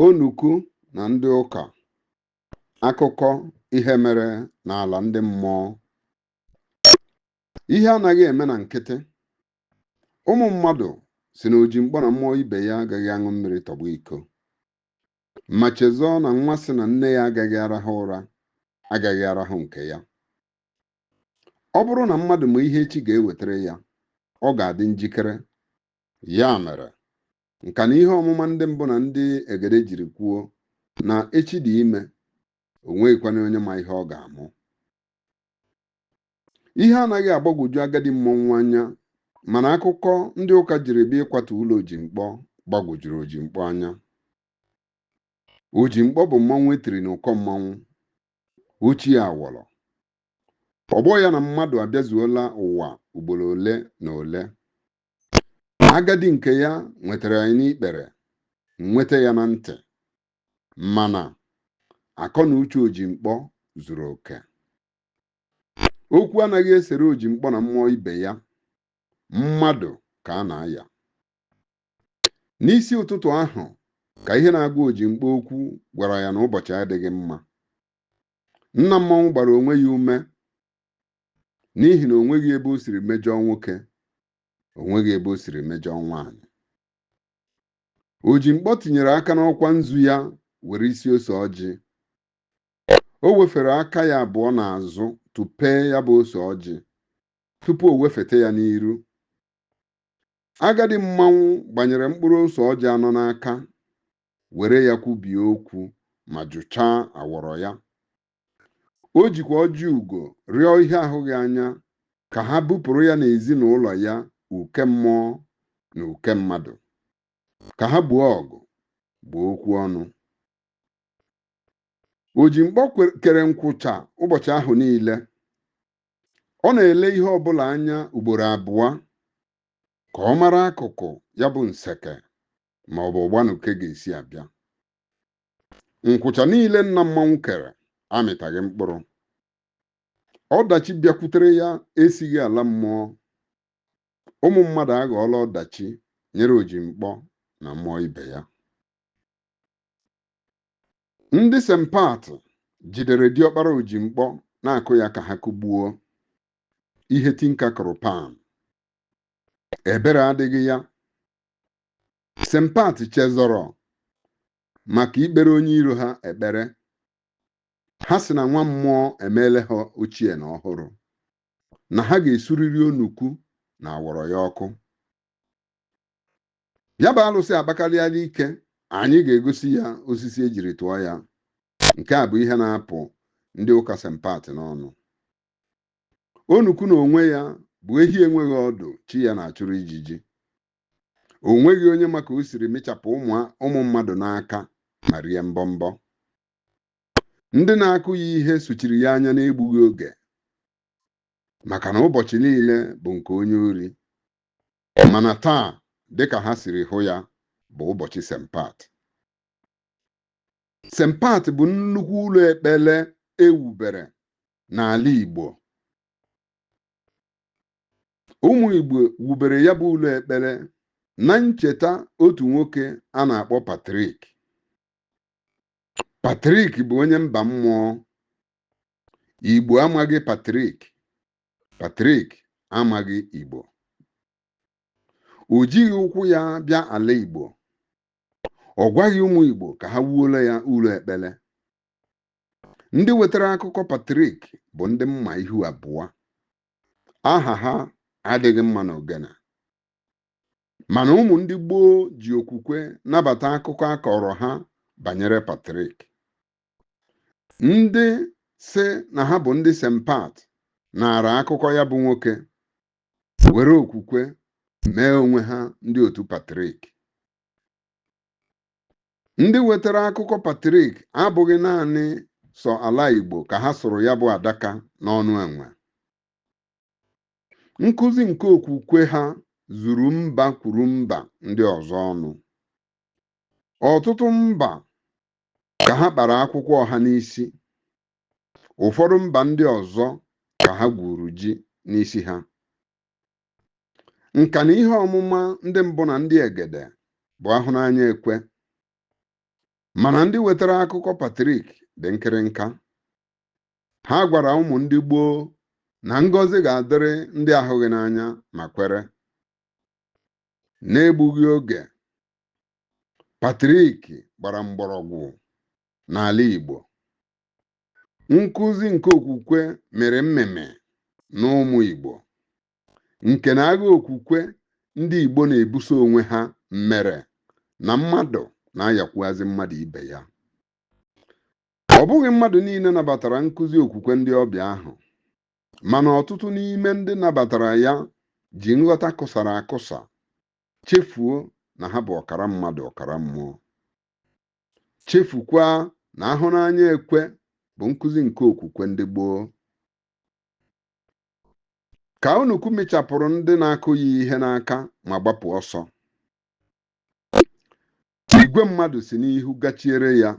Onukwu na ndị ụka akụkọ ihe mere n'ala ndị mmụọ ihe anaghị eme na nkịtị ụmụ mmadụ si na ojimkpọ na mmụọ ibe ya agaghị aṅụ mmiri tọgbọ iko ma chezọọ na nwa sị na nne ya agaghị arahụ ụra agaghị arahụ nke ya ọ bụrụ na mmadụ ma ihe echi ga-ewetara ya ọ ga-adị njikere Ya mere, nka na ihe ọmụma ndị mbụ na ndị egede jiri kwuo na echi dị ime, o nweghịkwana onye ma ihe ọ ga-amụ. Ihe anaghị agbagwoju agadi mmọnwụ anya mana akụkọ ndị ụka jiri bịa ịkwatu ụlọ Ojimkpọ gbagwojuru Ojimkpọ anya. Ojimkpọ bụ mmanwụ e tiri n'ụkọ mmanwụ, ochie awọrọ. Ọgbọ ya na mmadụ abịazuola ụwa ugboro ole na ole. agadi nke ya nwetara ya n'ikpere nweta ya na ntị mana akọ na uche ojimkpọ zuru oke okwu anaghị esere ojimkpọ na mmụọ ibe ya mmadụ ka a na-aya n'isi ụtụtụ ahụ ka ihe na-agwa ojimkpọ okwu gwara ya na ụbọchị adịghị mma nna mmọnwụ gbara onwe ya ume n'ihi na o nweghị ebe o siri mejọọ nwoke o nweghị ebe o siri mejọọ nwaanyị ojimkpọ tinyere aka n'ọkwa nzu ya were isi ose ọjị o wefere aka ya abụọ n'azụ tụpee ya bụ ose ọjị tupu o wefete ya n'iru agadi mmanwụ gbanyere mkpụrụ ose ọjị anọ n'aka were ya kwubie okwu ma jụchaa awọrọ ya o jikwa ọjị ugo rịọ ihe ahụghị anya ka ha bupụrụ ya n'ezinụlọ ya uke mmụọ na uke mmadụ ka ha buo ọgụ gbuo okwu ọnụ ojimkpọ kere nkwụcha ụbọchị ahụ niile ọ na-ele ihe ọbụla anya ugboro abụọ ka ọ mara akụkụ ya bụ nseke ma ọ bụ ọgbanuke ga-esi abịa nkwụcha niile nna mmanwụ kere amịtaghị mkpụrụ ọdachi bịakwutere ya esighị ala mmụọ ụmụ mmadụ aghọọla ọdachi nyere ojimkpọ na mmụọ ibe ya ndị sempat jidere diọkpara ojimkpọ na-akụ ya ka ha kụgbuo ihe tinka kụrụ pan ebere adịghị ya Sempat chezọrọ maka ikpere onye iro ha ekpere. Ha sị na nwa mmụọ emeela ha ochie na ọhụrụ, na ha ga-esuriri onukwu na awọrọ ya ọkụ. Ya bụ alụsị akpakarịala ike, anyị ga-egosi ya osisi e jiri tụọ ya. Nke a bụ ihe na-apụ ndị ụka Sempat n'ọnụ. Onukwu n'onwe ya bụ ehi enweghị ọdụ chi ya na-achụrụ ijiji. o nweghị onye ma ka o siri mịchapụ ụmụ ụmụ mmadụ n'aka ma rie mbọmbọ ndị na-akụ ya ihe sochiri ya anya n'egbughị oge maka na ụbọchị niile bụ nke onye ori mana taa dịka ha siri hụ ya bụ ụbọchị sempat sempat bụ nnukwu ụlọ ekpere ewubere n'ala Igbo ụmụ Igbo wubere ya bụ ụlọ ekpere na ncheta otu nwoke a na-akpọ Patrik Patrik bụ onye mba mmụọ Igbo amaghị Patrik Patrik amaghị Igbo o jighị ụkwụ ya bịa ala Igbo ọ gwaghị ụmụ Igbo ka ha wuola ya ụlọ ekpere ndị wetara akụkọ Patrik bụ ndị mma ihu abụọ aha ha adịghị mma n'ogene mana ụmụ ndị gboo ji okwukwe nabata akụkọ a kọọrọ ha banyere Patrik ndị sị na ha bụ ndị Sempat nara akụkọ ya bụ nwoke were okwukwe mee onwe ha ndị otu Patrik Ndị wetara akụkọ Patrik abụghị naanị sọ ala Igbo ka ha sụrụ ya bụ adaka n'ọnụ enwe. Nkụzi nke okwukwe ha zuru mba kwuru mba ndị ọzọ ọnụ. Ọtụtụ mba ka ha kpara akwụkwọ ọha n'isi. Ụfọdụ mba ndị ọzọ ka ha gwuru ji n'isi ha. nka na ihe ọmụma ndị mbụ na ndị egede bụ a hụ n'anya e kwe mana ndị wetara akụkọ Patrik dị nkịrịnka ha gwara ụmụ ndị gboo na ngọzi ga-adịrị ndị ahụghị n'anya ma kwere n'egbughị oge Patrik gbara mgbọrọgwụ n'ala Igbo nkụzi nke okwukwe mere mmemme n'ụmụ Igbo nke na agha okwukwe ndị Igbo na-ebuso onwe ha mere na mmadụ na-ayakwuazị mmadụ ibe ya ọ bụghị mmadụ niile nabatara nkụzi okwukwe ndị ọbịa ahụ mana ọtụtụ n'ime ndị nabatara ya ji nghọta kụsara akụsa chefuo na ha bụ ọkara mmadụ ọkara mmụọ chefukwa na ahụ n'anya ekwe bụ nkụzi nke okwukwe ndị gboo ka onukwu mịchapụrụ ndị na-akụ ya ihe n'aka ma gbapụ ọsọ igwe mmadụ si n'ihu gachiere ya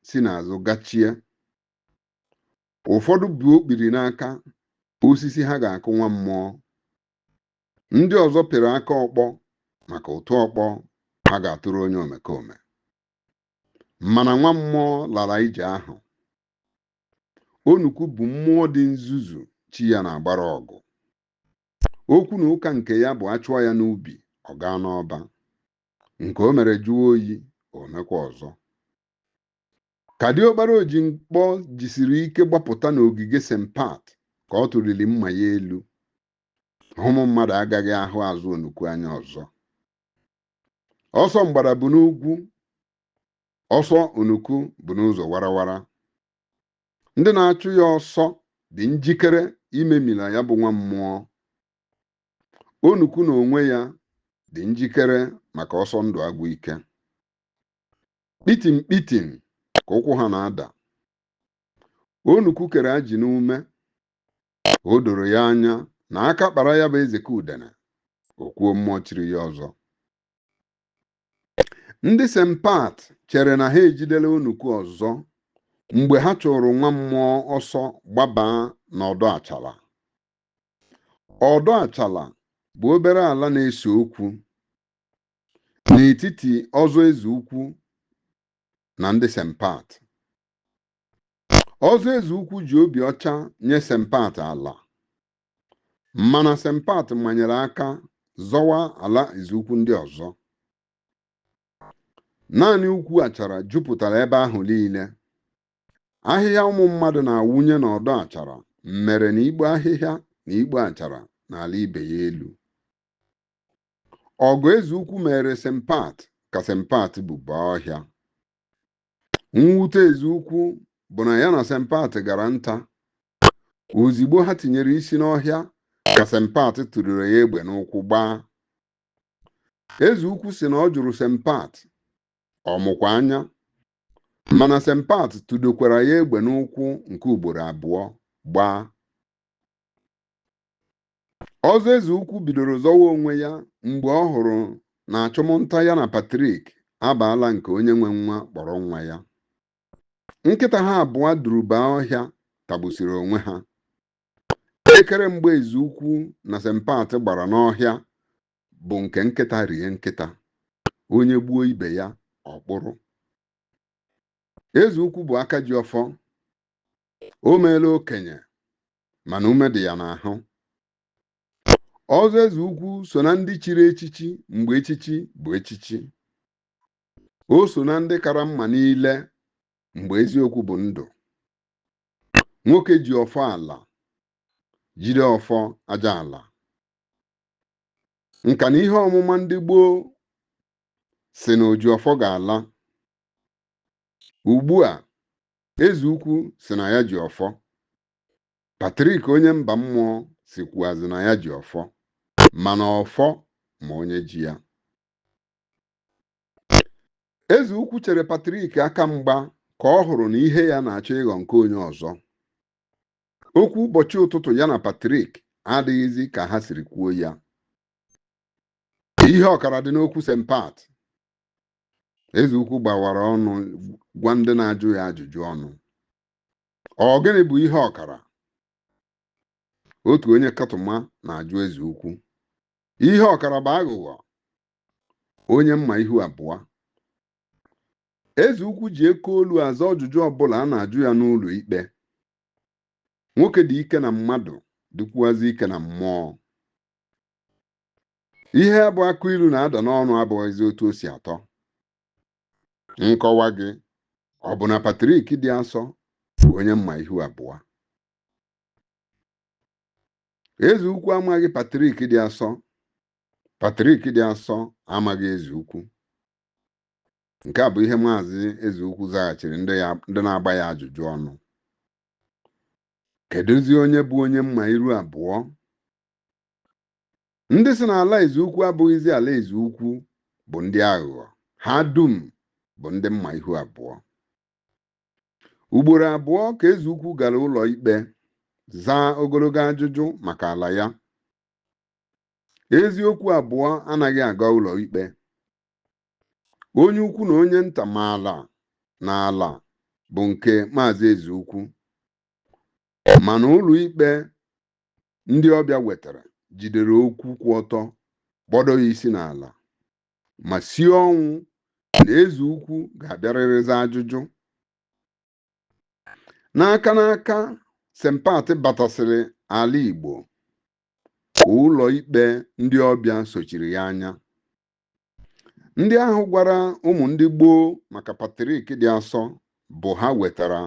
si n'azụ gachie ụfọdụ bu okpiri n'aka osisi ha ga-akụ nwa mmụọ ndị ọzọ pịrị aka ọkpọ maka ụtụ ọkpọ a ga-atụrụ onye omekome mana nwa mmụọ lara ije ahụ onukwu bụ mmụọ dị nzuzu chi ya na-agbara ọgụ okwu na ụka nke ya bụ a chụọ ya n'ubi ọ gaa n'ọba nke o mere jụọ oyi o mekwa ọzọ ka diọkpara oji mkpọ jisiri ike gbapụta n'ogige st pat ka ọ tụliri mma ya elu na ụmụ mmadụ agaghị ahụ azụ onukwu anya ọzọ ọsọ mgbada bụ n'ugwu ọsọ onukwu bụ n'ụzọ warawara ndị na-achụ ya ọsọ dị njikere imemila ya bụ nwa mmụọ onukwu na onwe ya dị njikere maka ọsọ ndụ agwụ ike kpitim kpitim ka ụkwụ ha na-ada onukwu kere ajị n'ume o doro ya anya na aka kpara ya bụ Ezeka Udene okwuo mmụọ chiri ya ọzọ ndị st pat chere na ha ejidela onukwu ọzọ mgbe ha chụrụ nwa mmụọ ọsọ gbaba n'ọdọ achala ọdọ achala bụ obere ala na-ese okwu n'etiti ọzọ eze ukwu na ndị st pat ọzọ eze ukwu ji obi ọcha nye st pat ala mana st pat manyere aka zọwa ala eze ukwu ndị ọzọ naanị ukwu achara jupụtara ebe ahụ niile ahịhịa ụmụ mmadụ na-awụnye n'ọdọ achara mere na igbo ahịhịa na igbo achara na-ala ibe ya elu ọgụ eze ukwu mere st pat ka st pat bụba ọhịa mwute eze ukwu bụ na ya na sempat gara nta ozigbo ha tinyere isi n'ọhịa ka sempat tụdoro ya egbe n'ụkwụ gbaa eze ukwu si na ọ jụrụ sempat ọ mụkwa anya mana sempat tụdokwara ya egbe n'ụkwụ nke ugboro abụọ gbaa ọzọ eze ukwu bidoro zọwa onwe ya mgbe ọ hụrụ na achụmnta ya na Patrik abaala nke onye nwe nwa kpọrọ nwa ya nkịta ha abụọ duru baa ọhịa tagbusiri onwe ha ekere mgba eze ukwu na sempat gbara n'ọhịa bụ nke nkịta rie nkịta onye gbuo ibe ya ọ kpụrụ eze ukwu bụ aka ji ọfọ o meela okenye mana ume dị ya n'ahụ ọzọ eze ukwu so na ndị chiri echichi mgbe echichi bụ echichi o so na ndị kara mma niile mgbe eziokwu bụ ndụ nwoke ji ọfọ ala jide ọfọ aja ala nka na ihe ọmụma ndị gboo si na oji ọfọ ga-ala ugbu a eze ukwu si na ya ji ọfọ Patrik onye mba mmụọ sikwuazị na ya ji ọfọ mana ọfọ ma onye ji ya. Eze ukwu chere Patrik aka mgba ka ọ hụrụ na ihe ya na-achọ ịghọ nke onye ọzọ. Okwu ụbọchị ụtụtụ ya na Patrik adịghịzi ka ha siri kwuo ya. Ihe ọkara dị n'okwu Sempat. Eze ukwu gbawara ọnụ gwa ndị na-ajụ ya ajụjụ ọnụ. Ọ gịnị bụ ihe ọkara? Otu onye kọtụma na-ajụ eze ukwu. Ihe ọkara bụ aghụghọ, onye mma ihu abụọ. Eze ukwu ji oke olu aza ọjụjụ ọbụla a na-ajụ ya n'ụlọ ikpe. Nwoke dị ike na mmadụ dịkwuazị ike na mmụọ. Ihe bụ akụ ilu na-ada n'ọnụ abụghịzi otu o si atọ. nkọwa gị ọ bụ na Patrik dị asọ bụ onye mma ihu abụọ eze ukwu amaghị Patrik dị asọ Patrik dị asọ amaghị eze ukwu nke a bụ ihe maazị eze ukwu zaghachiri ndị na-agba ya ajụjụ ọnụ kedụzi onye bụ onye mma iru abụọ ndị sị na ala eze ukwu abụghịzi ala eze ukwu bụ ndị aghụghọ ha dum bụ ndị mma ihu abụọ ugboro abụọ ka eze ukwu gara ụlọ ikpe zaa ogologo ajụjụ maka ala ya eziokwu abụọ anaghị aga ụlọ ikpe onye ukwu na onye nta maala na ala bụ nke maazị eze ukwu mana ụlọ ikpe ndị ọbịa wetara jidere okwu kwụ ọtọ kpọdo ya isi n'ala ma sie ọnwụ na eze ukwu ga-abịarịrị zaa ajụjụ n'aka n'aka sempat batasịrị ala igbo ka ụlọ ikpe ndị ọbịa sochiri ya anya ndị ahụ gwara ụmụ ndị gboo maka patrik dị asọ bụ ha wetara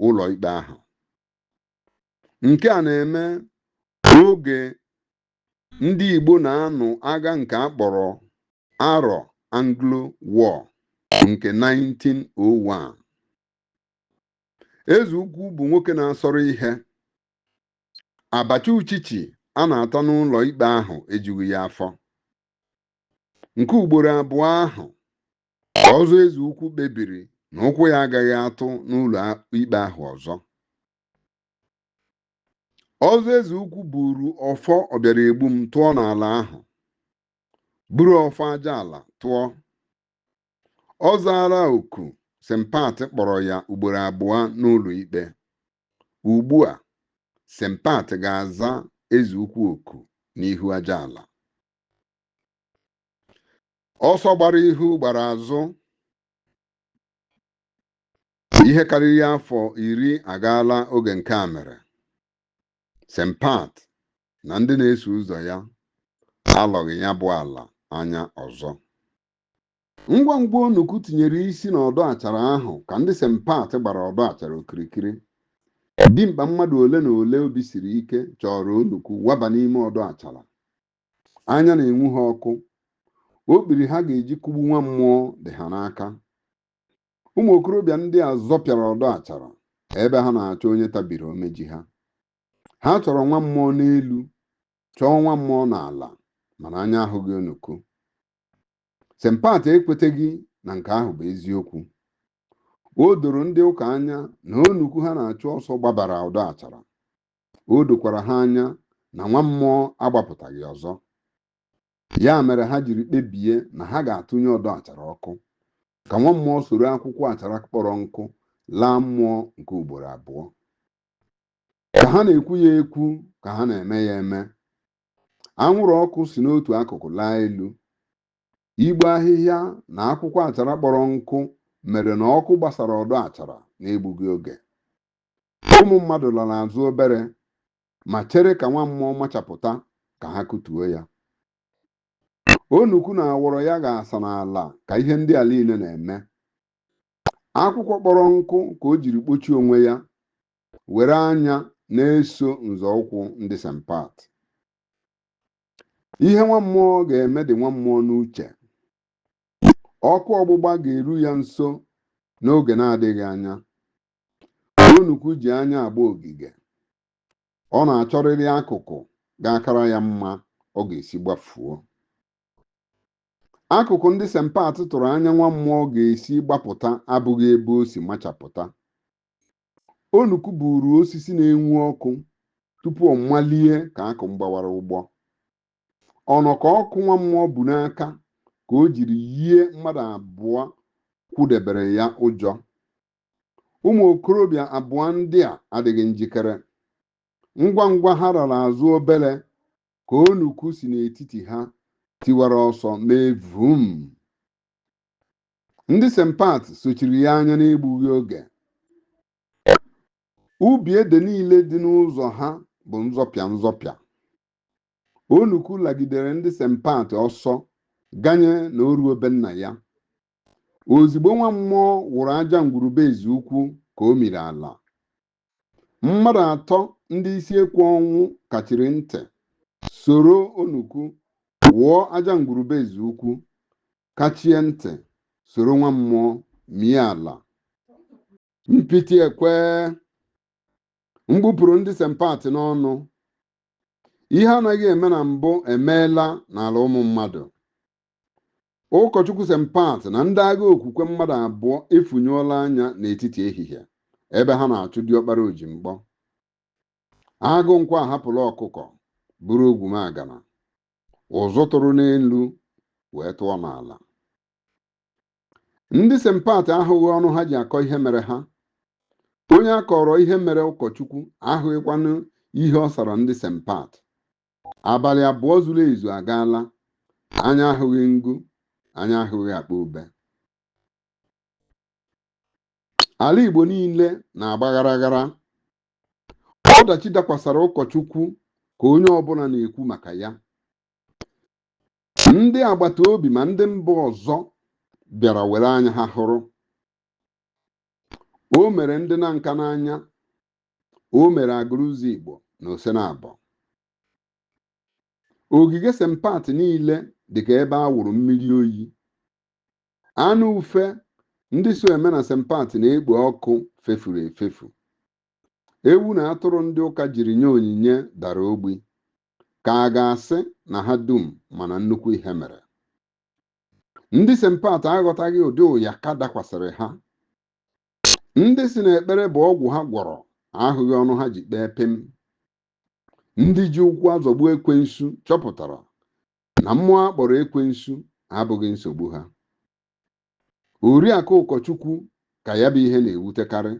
ụlọ ikpe ahụ Nke a na-eme n'oge ndị Igbo na-anụ agha nke a kpọrọ Arọ Anglo War nke 1901. Eze ukwu bụ nwoke na-asọrọ ihe. Abacha uchichi a na-ata n'ụlọ ikpe ahụ ejughị ya afọ. Nke ugboro abụọ ahụ Ọzọ eze ukwu kpebiri na ụkwụ ya agaghị atụ n'ụlọ ikpe ahụ ọzọ. Ọzọ eze ukwu buru ọfọ ọbịara egbu m tụọ n'ala ahụ, buru ọfọ aja ala tụọ. Ọ zaala oku Sempat kpọrọ ya ugboro abụọ n'ụlọ ikpe. Ugbu a, Sempat ga-aza eze ukwu oku n'ihu aja ala. ọsọ gbara ihu gbara azụ ihe karịrị afọ iri agaala oge nke a mere Sempat na ndị na-eso ụzọ ya alọghị ya bụ ala anya ọzọ ngwa ngwa onukwu tinyere isi n'ọdọ achara ahụ ka ndị Sempat gbara ọdọ achara okirikiri dimkpa mmadụ ole na ole obi siri ike chọrọ onukwu waba n'ime ọdọ achara anya na-enwu ha ọkụ okpiri ha ga-eji kụgbu nwa mmụọ dị ha n'aka ụmụ okorobịa ndị a zọpịara ọdọ achara ebe ha na-achọ onye tabiri omeji ha ha chọrọ nwa mmụọ n'elu chọọ nwa mmụọ n'ala mana anya ahụghị onukwu sempat ekweteghị na nke ahụ bụ eziokwu o doro ndị ụka anya na onukwu ha na-achụ ọsọ gbabara ọdọ achara o dokwara ha anya na nwa mmụọ agbapụtaghị ọzọ ya mere ha jiri kpebie na ha ga-atụnye ọdọ achara ọkụ ka nwa mmụọ soro akwụkwọ achara kpọrọ nkụ laa mmụọ nke ugboro abụọ ka ha na-ekwu ya ekwu ka ha na-eme ya eme anwụrụ ọkụ si n'otu akụkụ laa elu igbe ahịhịa na akwụkwọ achara kpọrọ nkụ mere na ọkụ gbasara ọdọ achara n'egbughị oge ụmụ mmadụ lara azụ obere ma chere ka nwa mmụọ machapụta ka ha kụtuo ya onukwu na awọrọ ya ga-asa n'ala ka ihe ndị a niile na-eme akwụkwọ kpọrọ nkụ ka o jiri kpochie onwe ya were anya na-eso nzọụkwụ ndị St. Pat ihe nwa mmụọ ga-eme dị nwa mmụọ n'uche ọkụ ọgbụgba ga-eru ya nso n'oge na-adịghị anya Onukwu ji anya agba ogige. Ọ na-achọrịrị akụkụ ga-akara ya mma ọ ga-esi gbafuo. Akụkụ ndị St. Pat tụrụ anya nwa mmụọ ga-esi gbapụta abụghị ebe o si machapụta. Onukwu buuru osisi na-enwu ọkụ tupu ọ malie ka akụ mgbawara ụgbọ. Ọnọkọ ọkụ nwa mmụọ bu n'aka ka o jiri yie mmadụ abụọ kwụdebere ya ụjọ. ụmụ okorobịa abụọ ndị a adịghị njikere. Ngwa ngwa ha rara azụ obere ka onukwu si n'etiti ha tiwara ọsọ mee vum. Ndị St. Pat sochiri ya anya n'egbughị oge. Ubi ede niile dị n'ụzọ ha bụ nzọpịa nzọpịa. Onukwu lagidere ndị St. Pat ọsọ ganye na o ruo be nna ya. ozigbo nwa mmụọ wụrụ aja ngwurube ezi ukwu ka o miri ala mmadụ atọ ndị isi ekwe ọnwụ kachiri ntị soro onukwu wụọ aja ngwurube ezi ukwu kachie ntị soro nwa mmụọ mie ala mpiti ekwe mkpu pụrụ ndị St. Pat n'ọnụ ihe anaghị eme na mbụ emeela n'ala ụmụ mmadụ Ụkọchukwu St. Pat na ndị agha okwukwe mmadụ abụọ efunyụọla anya n'etiti ehihie ebe ha na-achụ diọkpara Ojimkpọ. Agụ nkwọ ahapụla ọkụkọ buru ogwumagana, ụzụ tụrụ n'elu wee tụọ n'ala. Ndị St. Pat ahụghị ọnụ ha ji akọ ihe mere ha. Onye a kọọrọ ihe mere ụkọchukwu ahụghịkwanụ ihe ọ sara ndị St. Pat. abalị abụọ zuru ezu agaala anya ahụghị ngụ anya ahụghị akpa ube ala igbo niile na-agba ghara ghara ọdachi dakwasara ụkọchukwu ka onye ọbụla na-ekwu maka ya ndị agbata obi ma ndị mba ọzọ bịara were anya ha hụrụ o mere ndị na nka n'anya o mere agụrụ ụzọ Igbo na Osenabọ ogige St. Pat niile dịka ebe a wụrụ mmiri oyi anụ ufe ndị so eme na St. Pat na-ekpo ọkụ fefuru efefu ewu na atụrụ ndị ụka jiri nye onyinye dara ogbi ka a ga-asị na ha dum ma na nnukwu ihe mere ndị St. Pat aghọtaghị ụdị ụyaka dakwasịrị ha ndị sị na ekpere bụ ọgwụ ha gwọrọ ahụghị ọnụ ha ji kpee pịm ndị ji ụkwụ azọgbu ekwensu chọpụtara na mmụọ a kpọrọ ekwensu abụghị nsogbu ha oriakụ ụkọchukwu ka ya bụ ihe na-ewutekarị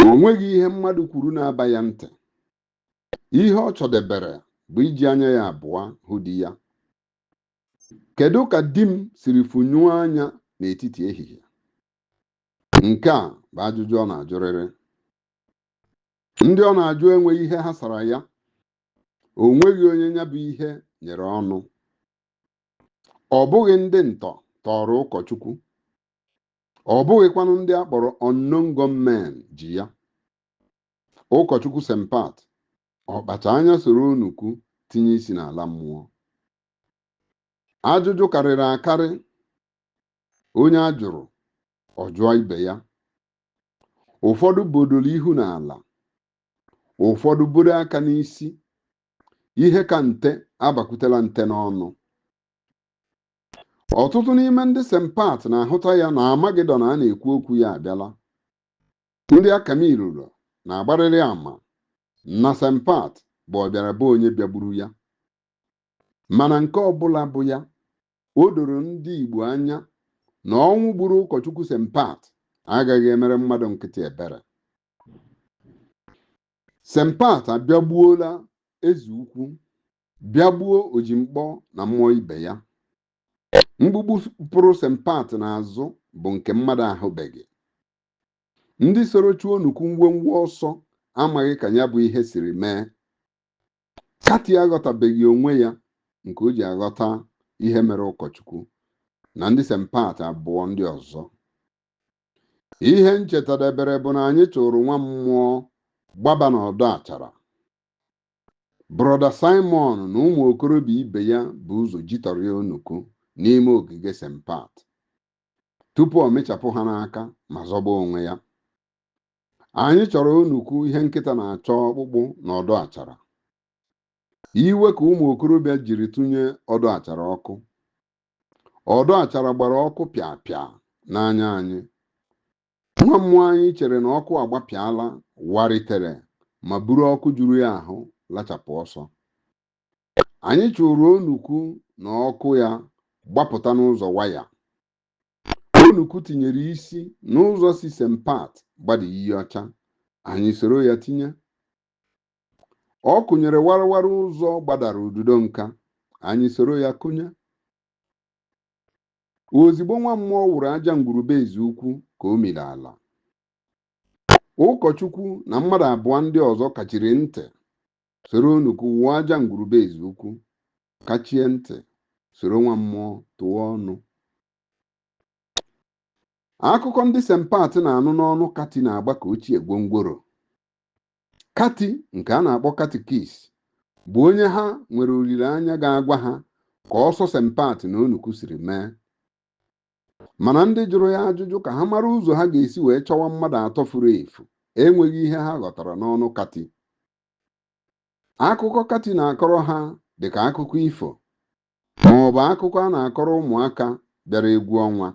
o nweghị ihe mmadụ kwuru na-aba ya ntị ihe ọ chọdebere bụ iji anya ya abụọ hụ di ya Kedu ka di m siri funyụọ anya n'etiti ehihie? Nke a bụ ajụjụ ọ na-ajụrịrị. Ndị ọ na-ajụ enweghị ihe ha sara ya. O nweghị onye ya bụ ihe nyere ọnụ. Ọ bụghị ndị ntọ tọọrọ ụkọchukwu. Ọ bụghịkwanụ ndị a kpọrọ unknown gunmen ji ya. Ụkọchukwu St. Pat, ọ kpacha anya soro Onukwu tinye isi n'ala mmụọ. ajụjụ karịrị akarị onye a jụrụ ọ jụọ ibe ya ụfọdụ bodoro ihu n'ala ụfọdụ buru aka n'isi ihe ka nte abakwutela nte n'ọnụ ọtụtụ n'ime ndị St. Pat na-ahụta ya na amagedọn a na-ekwu okwu ya abịala ndị akamilụlọ na-agbarịrị ama na St. Pat bụ ọbịara be onye bịagburu ya mana nke ọbụla bụ ya o doro ndị Igbo anya na ọnwụ gburu ụkọchukwu St. Pat agaghị emere mmadụ nkịtị ebere St. Pat abịagbuola eze ukwu bịagbuo ojimkpọ na mmụọ ibe ya mkpukpu pụrụ St. Pat n'azụ bụ nke mmadụ ahụbeghị ndị soro chụọ Onukwu ngwongwo ọsọ amaghị ka ya bụ ihe siri mee Kati aghọtabeghị onwe ya nke o ji aghọta ihe mere ụkọchukwu na ndị St. Pat abụọ ndị ọzọ. Ihe m chetadebere bụ na anyị chụrụ nwa mmụọ gbaba n'ọdọ achara. Brọda Simon na ụmụ okorobịa ibe ya bu ụzọ jitọrịa Onukwu n'ime ogige St. Pat tupu ọ mịchapụ ha n'aka ma zọba onwe ya. anyị chọrọ onukwu ihe nkịta na-achọ ọkpụkpụ n'ọdọ achara iwe ka ụmụ okorobịa jiri tụnye ọdọ achara ọkụ ọdọ achara gbara ọkụ pịa pịa n'anya anyị nwa mmụọ anyị chere na ọkụ agbapịala waritere ma buru ọkụ juru ya ahụ lachapụ ọsọ anyị chụrụ onukwu na ọkụ ya gbapụta n'ụzọ waya Onukwu tinyere isi n'ụzọ si St. Pat gbada iyi ọcha, anyị soro ya tinye. Ọ kụnyere warawara ụzọ gbadara ududo nka, anyị soro ya kụnye. Ozigbo nwa mmụọ wụrụ aja ngwuru be Ezeukwu ka o miri ala. Ụkọchukwu na mmadụ abụọ ndị ọzọ kachiri ntị soro Onukwu wụọ aja ngwuru be Ezeukwu. kachie ntị soro nwa mmụọ tụọ ọnụ akụkọ ndị St. Pat na-anụ n'ọnụ kati na-agba ka ochie gwongworo kati nke a na-akpọ katikis bụ onye ha nwere olileanya ga-agwa ha ka ọsọ St. Pat na onukwu siri mee mana ndị jụrụ ya ajụjụ ka ha mara ụzọ ha ga-esi wee chọwa mmadụ atọ furu efu enweghị ihe ha ghọtara n'ọnụ kati Akụkọ Kati na-akọrọ ha dị ka akụkọ ifo ma ọ bụ akụkọ a na-akọrọ ụmụaka bịara egwu ọnwa.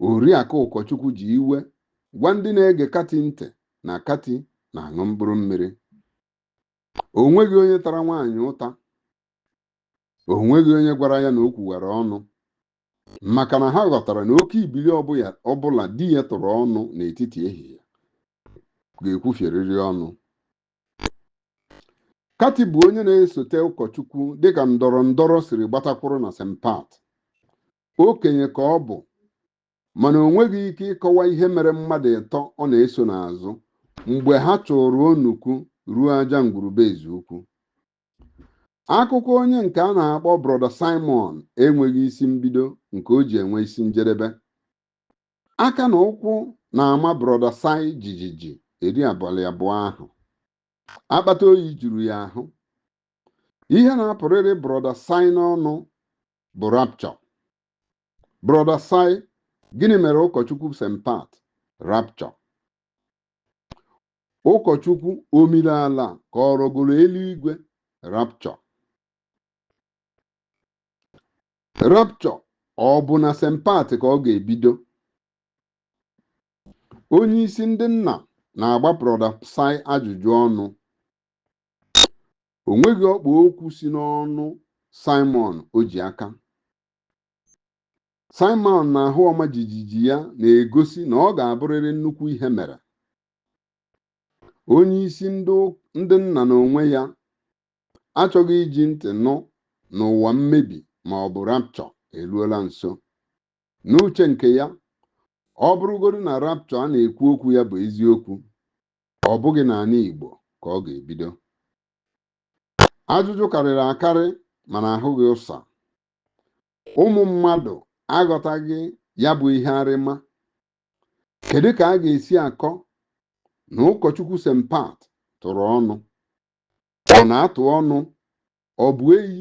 Oriakụ Ụkọchukwu ji iwe gwa ndị na-ege Kati ntị na Kati na-aṅụ mkpụrụ mmiri. O nweghị onye tara nwaanyị ụta. O nweghị onye gwara ya na o kwuwara ọnụ maka na ha ghọtara na oke ibili ọbụla di ya tụrụ ọnụ n'etiti ehihie ga-ekwufierịrị ọnụ. Kati bụ onye na-esote ụkọchukwu dịka ndọrọ ndọrọ siri gbata kwụrụ na St. Pat. Okenye ka ọ bụ mana o nweghị ike ịkọwa ihe mere mmadụ ịtọ ọ na-eso n'azụ mgbe ha chụrụ onukwu ruo aja ngwuru be Ezeukwu. Akụkọ onye nke a na-akpọ Brọda Simon enweghị isi mbido nke o ji enwe isi njedebe. Aka na ụkwụ na-ama Brọda Sai jijiji eri abalị abụọ ahụ. Akpata oyi juru ya ahụ. Ihe na-apụrịrị Brọda Sai n'ọnụ bụ rapture. Brọda Sai, gịnị mere ụkọchukwu St. Pat? Rapture. Ụkọchukwu o miri ala ka ọ rọgoro eluigwe? Rapture. rapture ọ bụ na St. Pat ka ọ ga-ebido onye isi ndị nna na-agba brọda Sai ajụjụ ọnụ o nweghị ọkpa okwu si n'ọnụ Simon o ji aka Simon na ahụ ọma jijiji ya na-egosi na ọ ga-abụrịrị nnukwu ihe mere onye isi ndị nna n'onwe ya achọghị iji ntị nụ na ụwa mmebi ma ọ bụ rapture eruola nso. N'uche nke ya, ọ bụrụgodu na rapture a na-ekwu okwu ya bụ eziokwu, ọ bụghị n'ala Igbo ka ọ ga-ebido. Ajụjụ karịrị akarị mana ahụghị ụsa. Ụmụ mmadụ aghọtaghị ya bụ ihe arịma Kedu ka a ga-esi akọ na ụkọchukwu St. Pat tụrụ ọnụ? Ọ na-atụ ọnụ ọ bụ eyi